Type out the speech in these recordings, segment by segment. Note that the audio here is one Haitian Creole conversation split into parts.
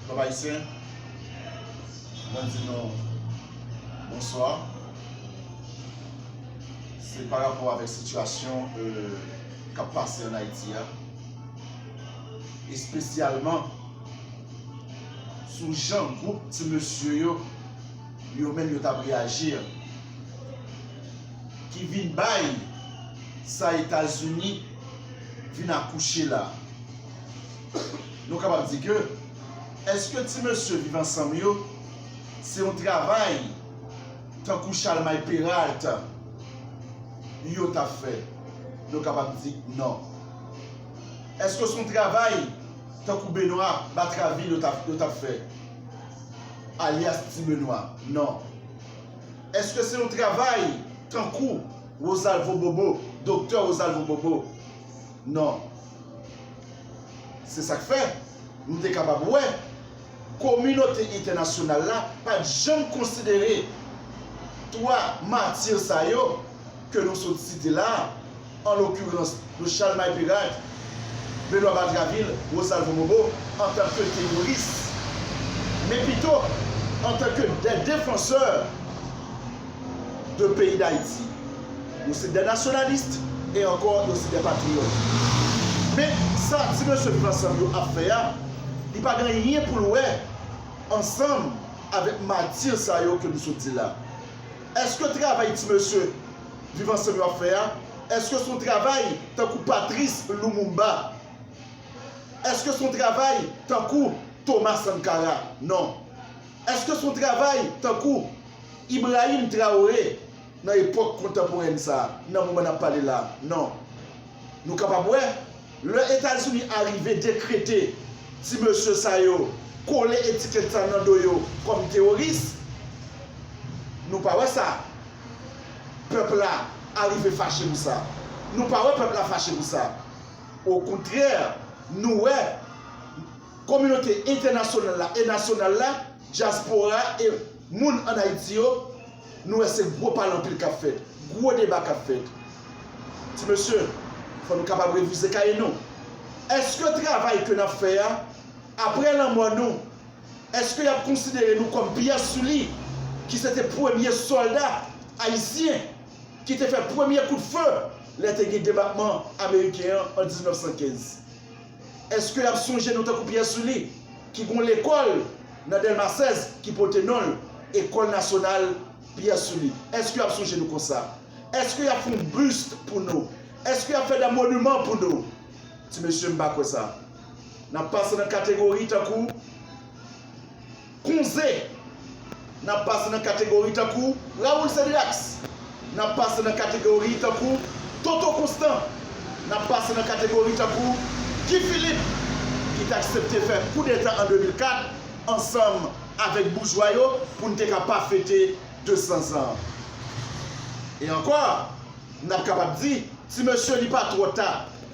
Pèp Ayisyen, mwen di nou bonswa. Se pa rapò avèk sitiyasyon k ap pase an Ayiti a, espesyalman sou jan gwoup ti mesye yo, yo menm yo t ap reyaji a, ki vin bay sa Etazini vin akouche la. nou kapab di ke eske ti mesye viv ansanm yo se yon travay tankou Chalmay Peralt yo ta fè? Nou kapab di non. Eske se yon travay tankou Benwa Batravil yo ta fè alyas Ti Benwa? Non. Eske se yon travay tankou Wozalvo Bobo, Doktè Wozalvo Bobo? Non. Se sa k fè, nou te kapab wè, kominote entènasyonal la pa t janm konsidere twa matir sa yo ke nou sot site la a, an lokirans de Chalmay Perak, Benwa Batravil, Rosalvo Bobo, antanke teworis, men pito antanke de defansè de peyi Dayiti. Yo se de nationalistes et encore yo se de patriotes. Men sa ti mesye pran san yo ap fè a, li pa gen anyen pou l wè ansanm avèk matir sa yo ke m sot di la. Eske travay ti mesye Viv Ansanm yo ap fè a, eske se yon travay tankou Patrice Lumumba? Eske se yon travay tankou Thomas Sankara? Non. Eske se yon travay tankou Ibrahim Traoré? Nan epòk kontanporèn sa a, nan moman n ap pale la a, non. Nou kapab wè, lè Etazini arive dekrete ti mesye sa yo, kole etikèt sa nan do yo kòm teworis, nou pa wè sa pèp la arive fache pou sa. Nou pa wè pèp la fache pou sa. Okontrè, nou wè kominote entènasyonal la e nasyonal la, dyaspora e moun ann Ayiti yo, Nou wè se gwo pale anpil k ap fèt, gwo deba k ap fèt. Ti mesye, fò nou kapab revize kaye nou. Èske travay ke n ap fè a, apre lanmò nou, èske y ap konsidere nou kòm Pierre Sully ki se te premye sòlda ayisyen ki te fè premye kout fe lè te gen debakman ameriken an an 1915? Èske y ap sonje nou tankou Pierre Sully ki gen yon lekòl nan Dèlma 16 ki pote non l, École Nationale Pierre Sully? Èske y ap sonje nou konsa? Èske y ap fè yon bust pou nou? Èske y ap fè da monuman pou nou? Ti mesye m pa kwè sa. N ap pase nan kategori tankou. Konze! N ap pase nan kategori tankou Raoul Cédéax, n ap pase nan kategori tankou Toto Constant, n ap pase nan kategori tankou Guy Philippe ki t aksepte fè koudeta an 2004 ansanm avèk boujwa yo pou n te ka pa fete 200 zan an. E ankò, n ap kapab di, ti mesye li pa twò ta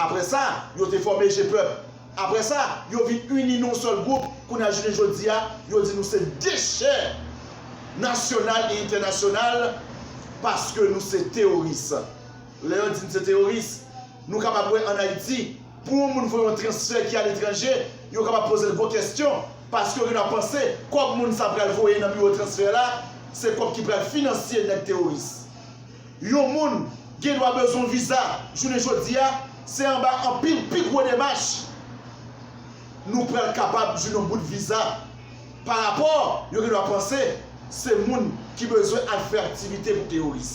Apre sa, yo te fòme Gepèp. Apre sa, yo vin ini nan yon sèl gwoup. Kounye a, jounen jodi a, yo di nou se dechè nasyonal e entènasyonal paske nou se teworis. Lè yo di n se teworis, nou kapab wè ann Ayiti, pou yon moun fè yon transfè ki aletranje, yo kapab poze l gwo kèsyon paske yo gendwa panse kòb moun sa pral voye nan biwo transfè la se kòb ki pral finansye nèg teworis. Yon moun gendwa bezwen viza jounen jodi a, se anba anpil pi gwo demach nou pral kapab jwenn yon bout viza pa rapò yo gendwa panse se moun ki bezwen al fè aktivite pou teworis.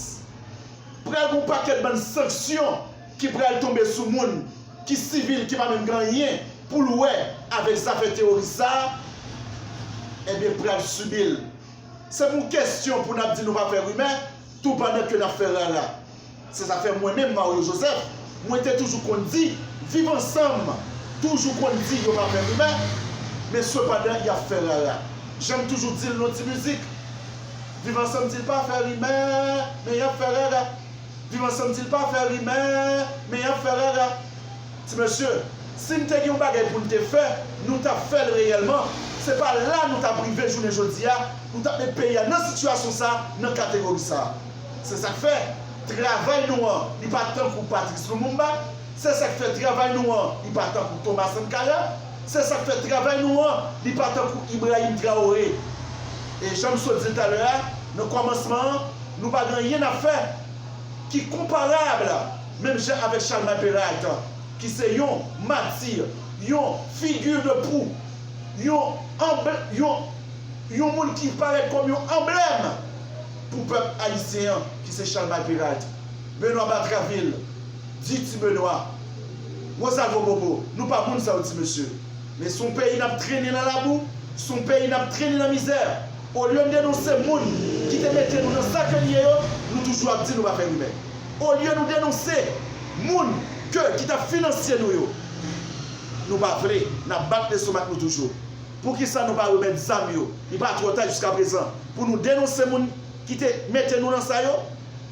Pral gen yon pakèt bann sanksyon ki pral tonbe sou moun ki sivil ki pa menm gen anyen pou l wè avèk zafè teworis sa a ebyen pral sibi l. Se pa yon kesyon pou n ap di nou pa fè rimè, Tou pandan ke nap fè rara. Se sa fè mwen menm Mario Joseph mwen te toujou konn di viv ansanm toujou konn di yo pa fè rimè men sepandan yap fè rara janm toujou dil non ti mizik viv ansanm dil pa fè rimè men yap fè rara viv ansanm dil pa fè rimè men yap fè rara. Ti mesye, si n te gen yon bagay pou n te fè, nou t ap fè l reyèlman. Se pa la nou t ap rive jounen jodi a, nou t ap met peyi a nan sitiyasyon sa a, nan kategori sa a. Se sa k fè, travay nou an, li pa tankou Patrice Lumumba. Se sa k fè, travay nou an, li pa tankou Thomas Sankara. Se sa k fè, travay nou an, li pa tankou Ibrahim Traoré. E jan m sot di l talè a, nan kòmansman an, nou pa gen anyen n ap fè ki konparab. Menm jan avèk Chalmay Peralt ki se yon matir, yon figure de proue, yon anblè, yon, yon moun ki parèt kòm yon anblèm pou pèp ayisyen an ki se Chalmay Peralt, Benoît Batraville, di ti Benoît, Rosalvo Bobo, nou pa moun sa yo ti mesye. Men son peyi nap trennen nan labou, son peyi nap trennen nan mizè. Olye n denonse moun ki te mete nou nan sa ke n ye yo, nou toujou ap di nou pa fè rimè. Olye nou denonse moun ke ki tap finansye nou yo nou pa vle nap bat lestomak nou toujou poukisa nou pa remèt zam yo li pa trò ta jiska prezan pou nou denonse moun ki te mete nou nan sa yo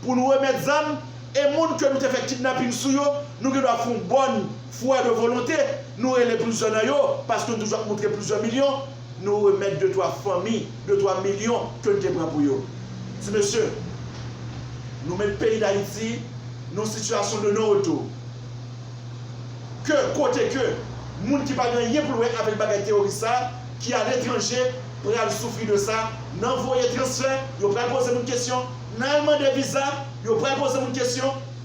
pou nou remèt zam e moun ke nou te fè kidnaping sou yo nou gen dwa fon bòn fwa de volonte nou rele plizyè nan yo paske nou toujou ap moutre plizyè milyon Nou remèt de twa fanmi, de twa milyon ke n te pran pou yo. Ti mesye, nou met peyi Dayiti nan yon sitiyasyon de non retou. Ke kote ke moun ki pa gen anyen pou l wè avèk bagay teyoris sa a, ki aletranje, pral soufri de sa, nan voye transfè, yo pral poze moun kesyon, nan al mande viza, yo pral poze moun kesyon.